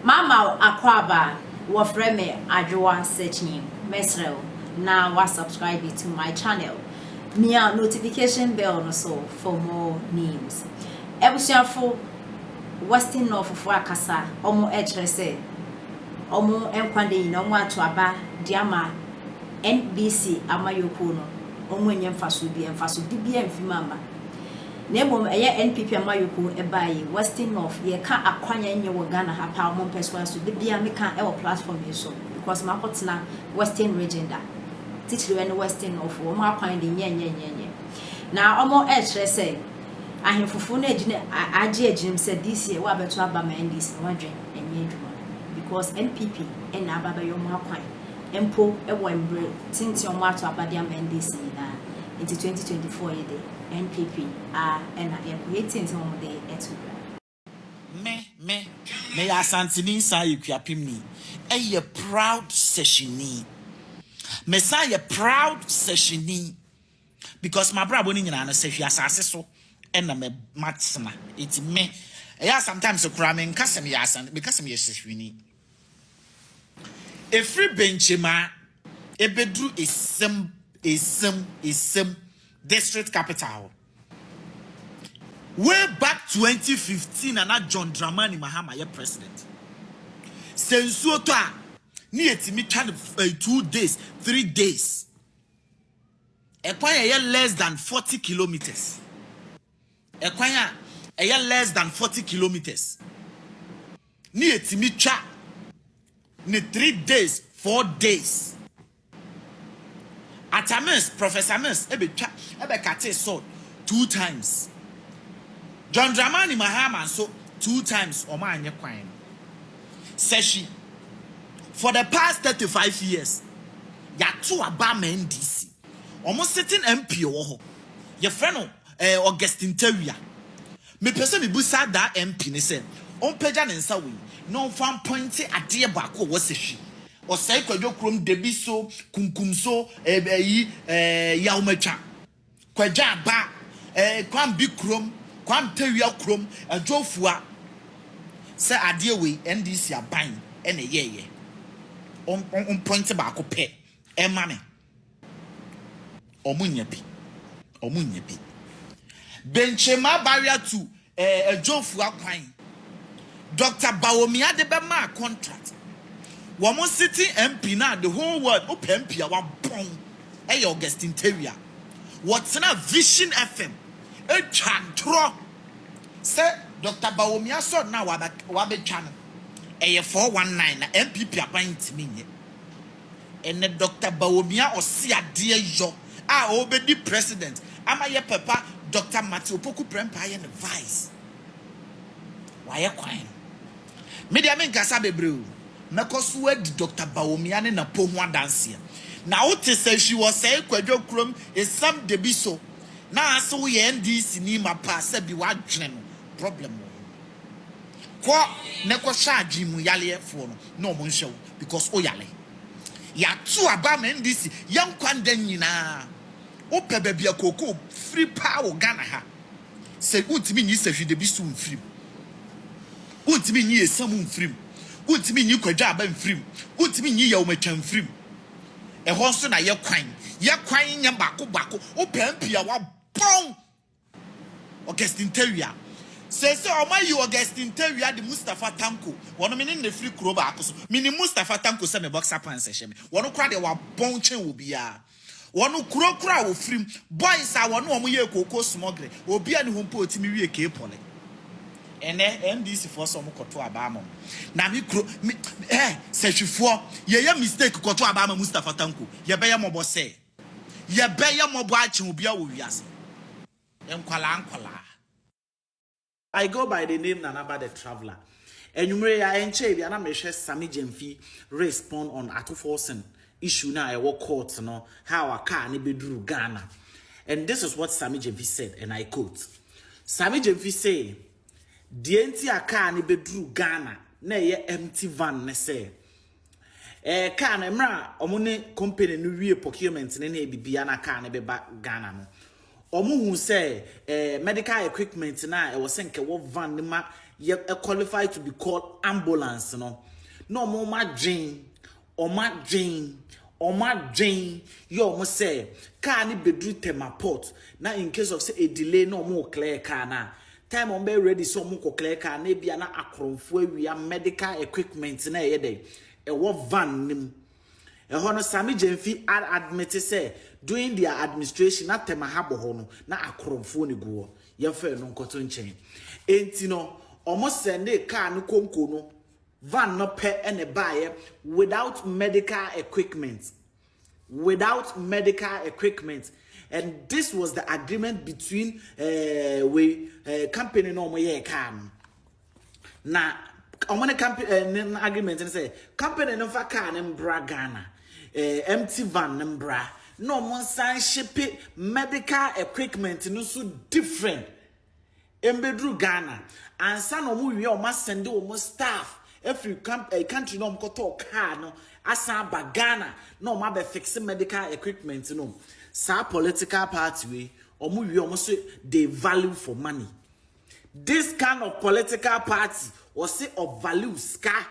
Mama wo akwaaba a wɔfrɛ me Adwoa Sekyi mɛsrɛ wo na wa subscribe to my channel mia notification bell no so for more news Abusuafo Western Northfo akasa ɔmo kyerɛ sɛ ɔmo nkwa da nyina ɔmo ato aba de ama NBC amayɔkuo no ɔmo nyɛ mfasoɔ bia mfasode bia mfi mu amma Na mmom ɛyɛ NPP amayɔkuo ɛbaa yi western north yɛka akwan a ɛnyɛ wɔ Ghana ha paa ɔmo mpɛ so aso da biaa meka ɛwɔ platform yi so because makɔ tena western region da titiriw ɛne western north foɔ ɔmo akwan de nyɛ nyɛ nyɛ nyɛ na ɔmo ɛkyerɛ sɛ ahenfofo no agyina agye agyirim sɛ this year wa bɛto aba ma NDC no wadwen ɛnyɛ adwuma because NPP ɛna aba bɛyɛ ɔmo akwan mpo ɛwɔ mbre tenten ɔmo ato aba de ama NDC nyinaa nti 2024 yi de. NPP aa na yɛkɔ yɛtiee nsɛm a wɔn de to dwa. Me me meyɛ Asanteni san yɛ Kuapemni ɛyɛ proud sɛhyeni me san yɛ proud sɛhyeni because mabrabɔ no nyinaa no sɛhwi asase so ɛna mɛ matena ɛti me ɛyɛ a sometimes koraa menka sɛ meyɛ Asanteni meka sɛ meyɛ sɛhwini. Ɛfiri Benkyemmaa ɛbɛduru Esem, Esem, Esem district capital hɔ. Way back 2015 na na John Dramani Mahama yɛ president. Sɛ nsuo tɔ a, ne yɛtumi twa no eh, two days, three days. Ɛkwan ɛyɛ less than 40 kilometers. Ɛkwan a ɛyɛ less than forty kilometres ne yɛtumi twa ne three days four days Atamis Professor Mills bɛtwa bɛkatee Sod two times John Dramani Mahama nso two times wɔn annye kwan no sɛhwi for the past thirty five years yɛato aba ama NDC. Wɔn sitting MP ɔwɔ hɔ, yɛfrɛ no Augustine Tawia. Mepɛ sɛ mebisa daa MP no sɛ ɔmpagya ne nsa wei na ɔmfa mpɔinte adeɛ baako a ɔwɔ sɛ hwi, ɔsɛe Kwadwo kurom Debi so, Kunkum so, eh, ayi, eh, Yawomatwa, Kwadwo Aba, eh, Kwambi kurom, Kwam Tawia kurom, Adwo Fua. Sɛ adeɛ wei NDC aban na ɛyɛɛyɛ, ɔm, ɔmpɔinte baako pɛ ɛma me. Ɔmo nnya bi. Ɔmo nnya bi. Benkyema barrier to eh, Adjofua kwan. Doctor Bawomia de bɛ maa contract. Wɔn sitting MP no a the whole world wo pɛ MP a wabɔn ɛyɛ Augustine Tawia. Wɔtena Vision FM ɛtwa ntorɔ sɛ Doctor Bawomia sɔre no a wabɛ wabɛtwa no ɛyɛ four one nine na NPP aban ntumi nyɛ. Ɛnɛ Dɔkta Bawomia Ɔseadeɛ yɔ a ɔrebɛdi President ama yɛ papa Dɔkta Martin Opoku Prempah yɛ ne Vice. Wayɛ kwan no. Me deɛ menkasa bebree o, mɛkɔ so adi Dɔkta Bawomia ne Napo ho adanseɛ. Na wote sɛ hwi wɔ sɛe Kwadwo kurom esam da bi so na ase woyɛ NDC ni mapa a sɛbi w'adwene no problem wɔ ho. Kɔ na kɔhwɛ adwene mu yareɛ foɔ no na ɔmo nhwɛ wo. Because wo yare. Y'ato aba ama NDC yɛ nkwa nda nyinaa. Wo pɛ baabi a kookoo firi paa wɔ Ghana ha. Sɛ wo ntumi nyi Sahwidabi so mfiri mu. Wo ntumi nyi Esamu mfiri mu. Wo ntumi nyi Kwadwoaba mfiri mu. Wo ntumi nyi Yawumatwa mfiri mu. Ɛhɔ nso na yɛ kwan. Yɛ kwan nyɛ baako baako. Wo pɛ MP a w'abɔn. Augustine Tawia. Seesei wɔayi Augustine Tawia de Mustapha Tanko, wɔne me ne no firi kuro baako so. Menim Mustapha Tanko sɛ me boxer pants hyɛ me. Wɔn koraa deɛ wɔabɔn kyɛn obiara. Wɔn kuro koraa a wɔfiri mu, boys a wɔne wɔn yɛɛ kookoo smɔgere, obiara nni hɔ mpo a ɔtumi wie K-Poly. Ɛnnɛ, NDCfoɔ sɛ wɔkɔto aba ama wɔn. Na me kuro, me, eh, Sahwifoɔ, yɛyɛ mistake kɔto aba ama Mustapha Tanko, yɛbɛyɛ mmɔbɔ sɛɛ. Yɛbɛ yɛ mɔbɔ akyen obia wɔ wiase nkwalaa nkwalaa. I go by the name Nanaba the traveller Anwummere yi a ɛnkyɛe biara na merehwɛ Sammy Gyamfi respond on Ato Forson issue no a ɛwɔ court no how a car no bɛduru Ghana and this is what Sammy Gyamfi said and I quote Sammy Gyamfi say deɛ nti a car no bɛduru Ghana na ɛyɛ empty van ne sɛ Ɛɛ car no mmerɛ a ɔmo ne company no wie procurement no ne biribiara na car no bɛba Ghana no, ɔmo hu sɛ ɛɛ medical equipment no a ɛwɔ sɛ nka ɛwɔ van no ma yɛ qualify to be called ambulance no, na ɔmo ɔmo adwen, ɔmo adwen, ɔmo adwen yɛ ɔmo sɛ car no bɛduru Tema port na in case of sɛ ɛdelay na ɔmo clear car no a, Time a wɔn bɛyɛ ready sɛ wɔn kɔ clear car na ebi a na akorɔmfo awia medical equipment na ɛyɛ dɛ ɛwɔ van no mu. Ɛhɔ no Sammy Gyamfi ad admit sɛ during their administration na Temaha bɔ hɔ no na akorɔmfoɔ na egu hɔ. Yɛn fɛ no nkɔto nkyɛn. Enti no wɔn sɛndee car no konko no van no pɛ na ɛbaayɛ without medical equipment without medical equipment and this was the agreement between eh, we eh, company na wɔn yɛ car no na wɔn ne company eh, ne agreement no sɛ company no nfa car no mbra Ghana eh, empty van no mbra na wɔn nsan ship medical equipment no so different. Mbeduru Ghana ansa na ɔmo wia ɔmo asɛnde ɔmo staff afiri country na ɔmo kɔ tɔɔ car no asan aba Ghana na ɔmo abɛ fixe medical equipment no saa political party wei ɔmo wia ɔmo se they value for money this kind of political party ɔse ɔ value sika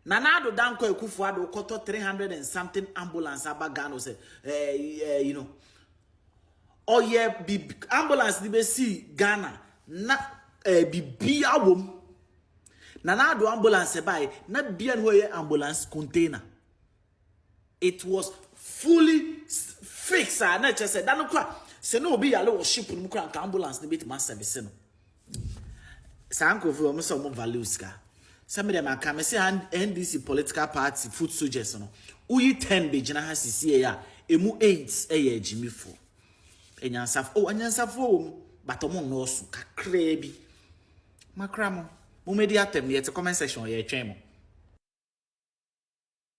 Nana Addo Dankwa Akufo Addo kɔtɔ 300 and something ambulance aba Ghana ɔsɛ eh, eh, you know ɔyɛ bib ambulance de bɛsii Ghana na ɛɛ bibia wɔ mu. Na n'ado ambulance ɛbaeɛ na bia ne hɔ yɛ ambulance container. It was fully fixed a na ɛkyɛ sɛ da no kora sɛ na obi yare wɔ ship no mu kora nka ambulance no bɛtumi asɛbese no. Saa nkurɔfo yi, wɔn sɛ wɔn value sika. Sɛ me deɛ maka, me se NDC political party foot soldiers no, woyi ten begyina ha sisie a, emu eight yɛ agyimifo. Anyansafo, oh, anyansafo wɔ mu, but wɔn nnɔɔso, kakraa bi. Makra mo, mo medi atɛm, yɛte comment section, yɛtwɛn mo.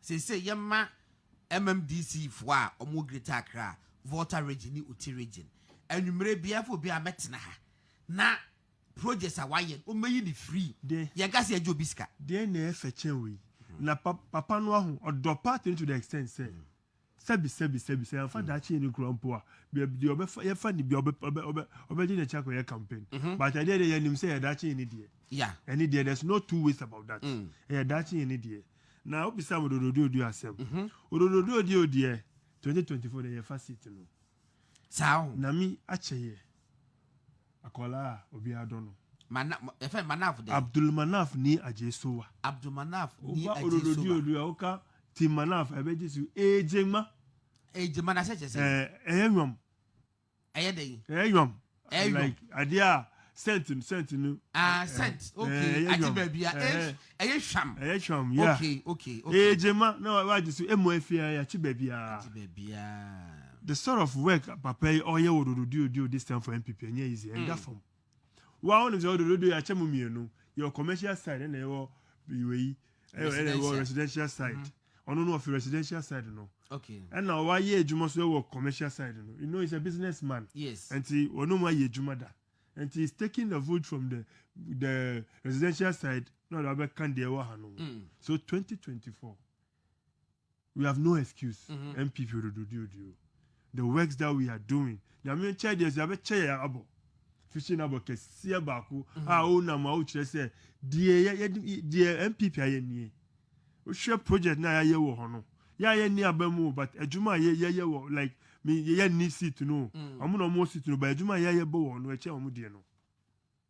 Seesei yɛma MMDC foɔ a wɔn wɔ Greater Accra, Volta Region ne Oti Region, anwummerɛ biara fo obiara mmɛtena ha na projects a wɔayɛ no wɔmmɛyi no free. Yɛnka sɛ yɛgye obi sika. Deɛn na ɛyɛ fɛ kyɛn wei? Na papa no aho ɔdɔ pa to the extent sɛ Sɛbi, sɛbi, sɛbi, sɛ yɛamfa daakye yɛ no kura mpo a, baabi deɛ ɔbɛfa, yɛfa no bia ɔbɛ, ɔbɛ, ɔbɛ, ɔbɛgye n'akyi akɔyɛ campaign. But ɛdeɛ deɛ yɛnim sɛ ɛyɛ daakye yɛ ne deɛ. Ɛne deɛ, there's no two ways about that. Ɛyɛ daakye yɛ ne deɛ. Na wobisaa me Ododo Oduo Oduo asɛm. Ododo Oduo Oduo deɛ, 2024 deɛ yɛfa seat no. Saa o. Nyame akyɛ yɛ akwadaa a obiara dɔ no. Mana yɛfɛ Manaf dɛ. Abdul Manaf ni agye so wa. Abdul Manaf ni agye so wa. Wofa ododo di ododo a woka ti Manaf ɛbɛ gye so ee gyema. Ee gyema na sɛ kyɛ sɛ. Ɛɛ ɛyɛ nwam. Ɛyɛ dɛ yi. Ɛyɛ nwam. ɛyɔ like adeɛ a scent no scent no. ah eh, scent eh, okay eh, agye baabi a ɛyɛ hwam ɛyɛ hwam ya okay okay okay ɛyɛ gyema na wagye so emu afi a yɛakye baabi a agye baabi a the sort of work papa yi ɔyɛ wɔ dododio dio this time for npp ɛnyɛ easy ɛnda mm. fam wa wɔn sɛ dododio yɛakyɛ mu mmienu yɛwɔ commercial side ɛna ɛwɔ wei ɛna ɛwɔ residential side. Mm -hmm. ɔno no ɔfi residential side no ɛna ɔayɛ adwuma so wɔ commercial side no you know he's a business man yes nti ɔno mu ayɛ adwuma da nti he's taking the vote from the the residential side na ɔde abɛka deɛ ɛwɔ ha no ho mm. so 2024 we have no excuse mm -hmm. mpp odododio dio The works that we are doing, Nyame nkyɛn deɛ nso yɛabɛkyɛ yɛn abɔ. Fishing no abɔ kɛseɛ baako a wonam a wokyerɛ sɛ deɛ yɛ yɛ deɛ NPP ayɛ nie. Wohwɛ project no a yɛayɛ wɔ hɔ no, yɛ a yɛnni aba mu o, but adwuma a yɛ yɛyɛ wɔ like me yɛnni seat no o, wɔn na wɔwɔ seat no but adwuma a yɛayɛ bɔ wɔ hɔ no ɛkyɛn wɔn deɛ no.